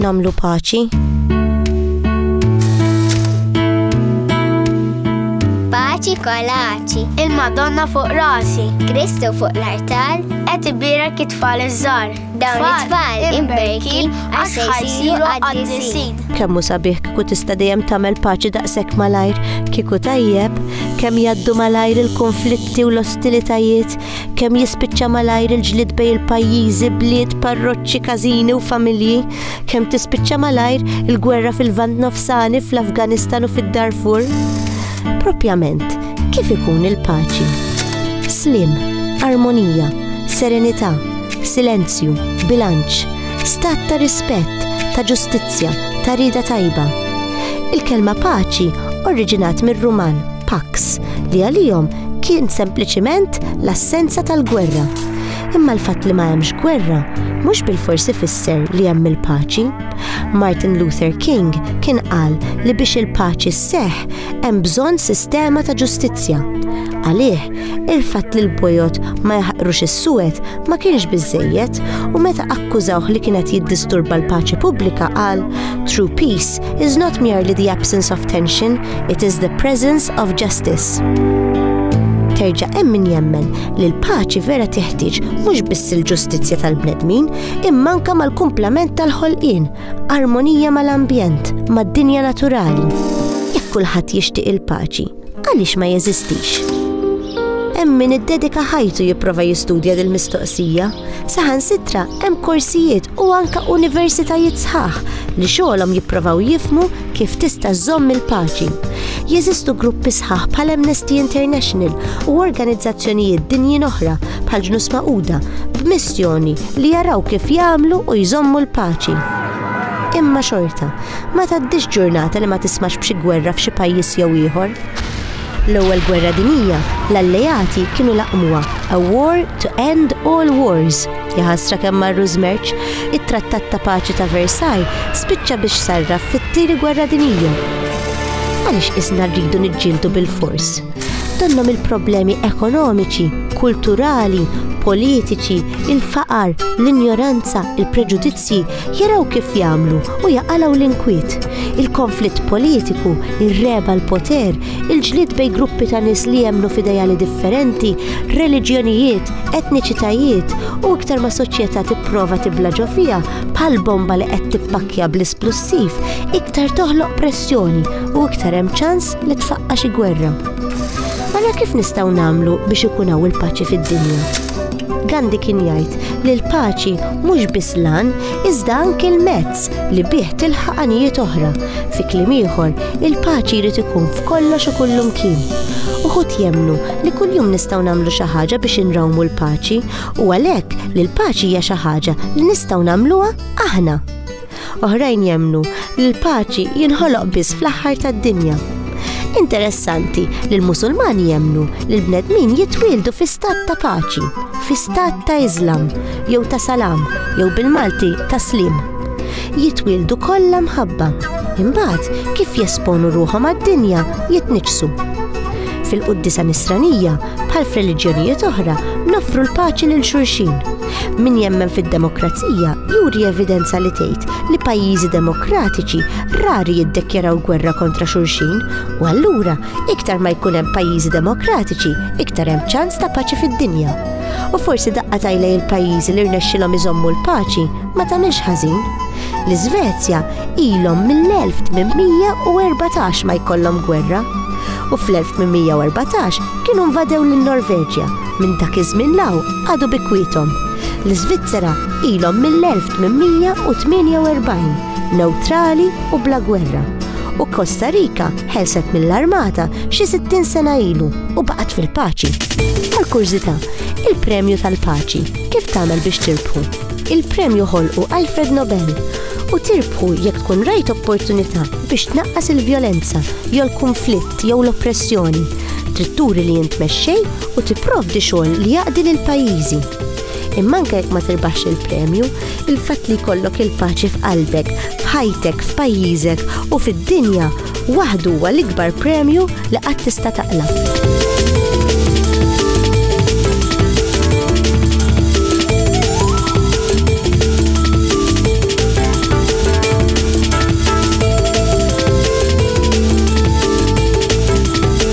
Namlu paċi. Paċi kolaċi. Il-Madonna fuq rasi. Kristu fuq l-artal. Et ibira kitfall iż-żar. Dawn it-tfal imberkin għax ħajsiru għaddisin. Kemmu sabiħ kiku tista' dejjem tagħmel paċi daqshekk malajr, kiku tajjeb, kemm jaddu malajr il-konflitti u l-ostilitajiet, kemm jispiċċa malajr il-ġlid bej il-pajjiżi, bliet, parroċċi, każini u familji, kemm tispiċċa malajr il-gwerra fil-Vant Nofsani, fl-Afganistan u fid-Darfur. Propjament, kif ikun il-paċi? Slim, armonija, serenità, silenzju, bilanċ, stat ta' rispett, ta' ġustizzja, ta' rieda tajba. Il-kelma paċi oriġinat mir-Ruman pax li għalihom kien sempliċiment l-assenza tal-gwerra. Imma l-fatt li ma hemmx gwerra mhux bilfors ifisser li hemm il-paċi. Martin Luther King kien qal li biex il-paċi sseħħ hemm bżonn sistema ta' ġustizzja. Għalih Il-fatt li l-bojod ma jaħqrux is-suwed ma kienx biżżejjed u meta akkużawh li kien qed jiddisturba l-paċi pubblika qal, True peace is not merely the absence of tension, it is the presence of justice. Terġa' hemm min jemmen li l-paċi vera teħtieġ mhux biss il-ġustizzja tal-bnedmin, imma anke mal-kumplament tal-ħolqien, armonija mal-ambjent, mad-dinja naturali. Jekk kulħadd jixtieq il-paċi, Għaliex ma jeżistix? Hemm min iddedika ħajtu jipprova jistudja dil mistoqsija saħan sitra hemm korsijiet u anka universitajiet sħaħ li xogħolhom jipprovaw jifmu kif tista' żomm il-paċi. Jeżistu gruppi sħaħ bħal Amnesty International u organizzazzjonijiet dinjin oħra bħal ġnus maquda b'missjoni li jaraw kif jagħmlu u jżommu l-paċi. Imma xorta, Ma tgħaddix ġurnata li ma tismax b'xi gwerra f'xi pajjiż jew ieħor. L-Ewwel Gwerra Dinjija, l-Alleati kienu laqmuha, a war to end all wars. Jaħasra kemm marru żmerċ, it-Trattat ta' Paċi ta' Versailles spiċċa biex sarraf fit-Tieni Gwerra Dinjija. Għaliex qisna rridu niġġieldu bilfors? Donnhom il-problemi ekonomiċi, kulturali, politiċi, il-faqar, l-injoranza, il-preġudizzji, Forsi jaraw kif jagħmlu u jaqalgħu l-inkwiet, il-konflitt politiku, ir-regħeb għall-poter, il-ġlied bejn gruppi ta' nies li jemmnu f'idejali differenti, reliġjonijiet, etniċitajiet, u iktar ma soċjetà tipprova tibla' ġo fiha bħal bomba li qed tippakkja bl-isplussiv, iktar toħloq pressjoni u iktar hemm ċans li tfaqqa' xi gwerra. Allura kif nistgħu nagħmlu biex ikun hawn il-paċi fid-dinja? Gandhi kien jgħid li l-paċi mhux biss l-għan iżda anki l-mezz li bih tilħaq għanijiet oħra. Fi kliem ieħor, il-paċi jrid ikun f'kollox u kullumkien. Uħud jemmnu li kuljum nistgħu nagħmlu xi ħaġa biex inrawmu l-paċi u għalhekk li l-paċi hija xi ħaġa li nistgħu nagħmluha aħna. Oħrajn jemmnu li l-paċi jinħoloq biss fl-aħħar tad-dinja. Interessanti li l-Musulmani jemmnu li l-bnedmin jitwieldu fi stat ta' paċi, fi stat ta' Islam, jew ta' salam, jew bil-Malti ta' slim. Jitwieldu kollha mħabba. Imbagħad kif jesponu ruħhom għad-dinja jitniġsu. Fil-quddisa nisranija, bħal f'reliġjonijiet oħra, noffru l-paċi lil xulxin Min jemmen fid-demokrazija juri evidenza li tgħid li pajjiżi demokratiċi rari jiddekjaraw gwerra kontra xulxin u allura iktar ma jkun hemm pajjiżi demokratiċi iktar hemm ċans ta' paċi fid-dinja. U forsi daqqa tajlej il-pajjiżi li rnexxilhom iżommu l-paċi ma tagħmilx ħażin. L-Iżvezja ilhom mill-1814 ma jkollhom gwerra u fl-1814 kienu nvadew lin-Norveġja Minn dak iż-żmien l hawn għadu bikwiethom. L-Iżvizzera ilhom mill-1848 newtrali u bla gwerra u Costa Rica ħelset mill-armata xi 60 sena ilu u baqgħet fil-paċi. Għal kurżità, il-premju tal-paċi kif tagħmel biex tirbħu? Il-premju ħolqu Alfred Nobel u tirbħu jekk tkun rajt opportunità biex tnaqqas il-vjolenza jew l-kunflitt jew l-oppressjoni. Trid turi li jintmexxej u tipprovdi xogħol li jaqdi lil pajjiżi. Imma anke jekk ma tirbaħx il-premju, il-fatt li jkollok il-paċi f'qalbek, f'ħajtek, f'pajjiżek u fid-dinja waħdu huwa l-ikbar premju li qatt tista' taqla'.